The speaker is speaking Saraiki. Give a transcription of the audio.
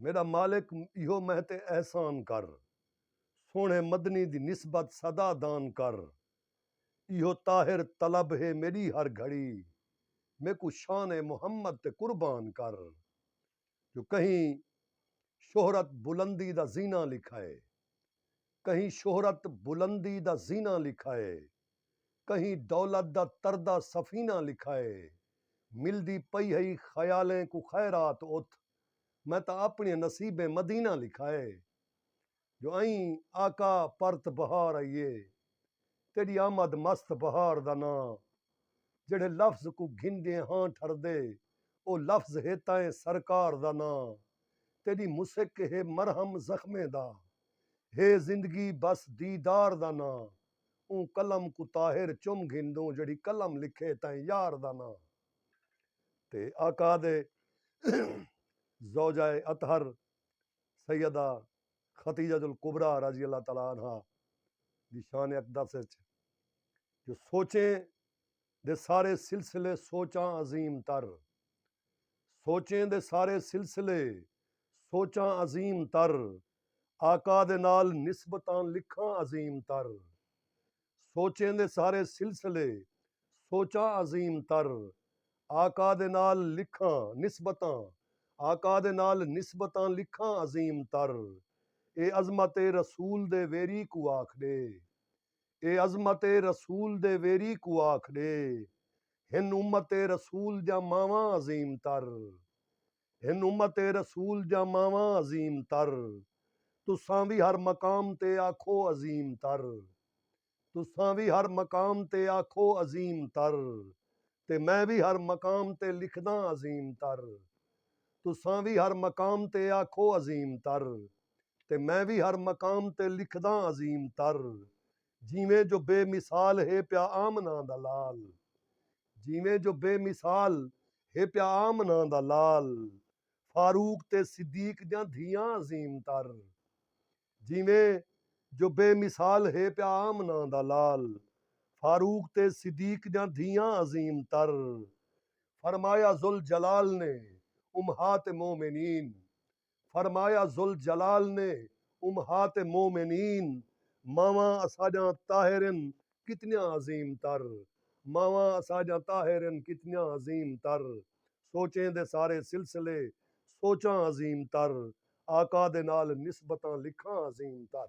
میݙا مالک ایہو مہ تے احسان کر سوہݨے مدنی دی نسبت سدا دان کر ایہو طاہر طلب ہے میݙی ہر گھڑی میکوں شان محمد تے قربان کر جو کہیں شہرت بلندی دا زینہ لکھائے کہیں شہرت بلندی دا زینہ لکھائے۔ کہیں دولت دا تردہ سفینہ لکھائے ملدی پئی ہئی خیالیں کوں خیرات اتھ میں تاں اپنڑیں نصیبیں مدینہ لکھائے جو ائیں آقا پرت بہار ائیے تیڈی آمد مست بہار دا ناں جیڑھے لفظ کوں گھندیں ہاں ٹھردے او لفظ ہے تائیں سرکار دا ناں تیڈی مسک ہے مرہم زخمیں دا ہے زندگی بس دیدار دا ناں۔ اوں قلم کوں طاہر چم گھندوں جیڑھی قلم لکھے تئیں یار دا ناں تے آقادے زوجہ اطہر سیدہ خدیجۃ الکبری رضی اللہ تعالی عنہا دی شان اقدس اچ جو سوچیں دے سارے سلسلے سوچاں عظیم تر سوچیں دے سارے سلسلے سوچاں عظیم تر آقا دے نال نسبتاں لکھاں عظیم تر سوچیں دے سارے سلسلے سوچاں عظیم تر آقا دے نال لکھاں نسبتاں آقا دے نال نسبتاں لکھاں عظیم تر اے عظمت رسول دے ویری کوں آکھ ݙے اے عظمت رسول دے ویری کوں آکھ ݙے ہن امت رسول دیاں ماواں عظیم تر ہن امت رسول دیاں ماواں عظیم تر تساں وی ہر مقام تے آکھو عظیم تر تساں وی ہر مقام تے آکھو عظیم تر تے میں وی ہر مقام تے لکھداں عظیم تر تساں وی ہر مقام تے آکھو عظیم تر۔ تے میں وی ہر مقام تے لکھداں عظیم تر جیویں جو بے مثال ہے پیا آمنہ دا لال جیویں جو بے مثال ہے پیا آمنہ دا لال فاروق تے صدیق دیاں دھیاں عظیم تر جیویں جو بے مثال ہے پیا آمنہ دا لال فاروق تے صدیق دیاں دھیاں عظیم تر فرمایا ذوالجلال نے امہات مومنین فرمایا ذوالجلال نے امہات مومنین ماواں اساݙیاں طاہر ہن کتنیاں عظیم تر ماواں اساݙیاں طاہر ہن کتنیاں عظیم تر سوچیں دے سارے سلسلے سوچاں عظیم تر آقا دے نال نسبتاں لکھاں عظیم تر۔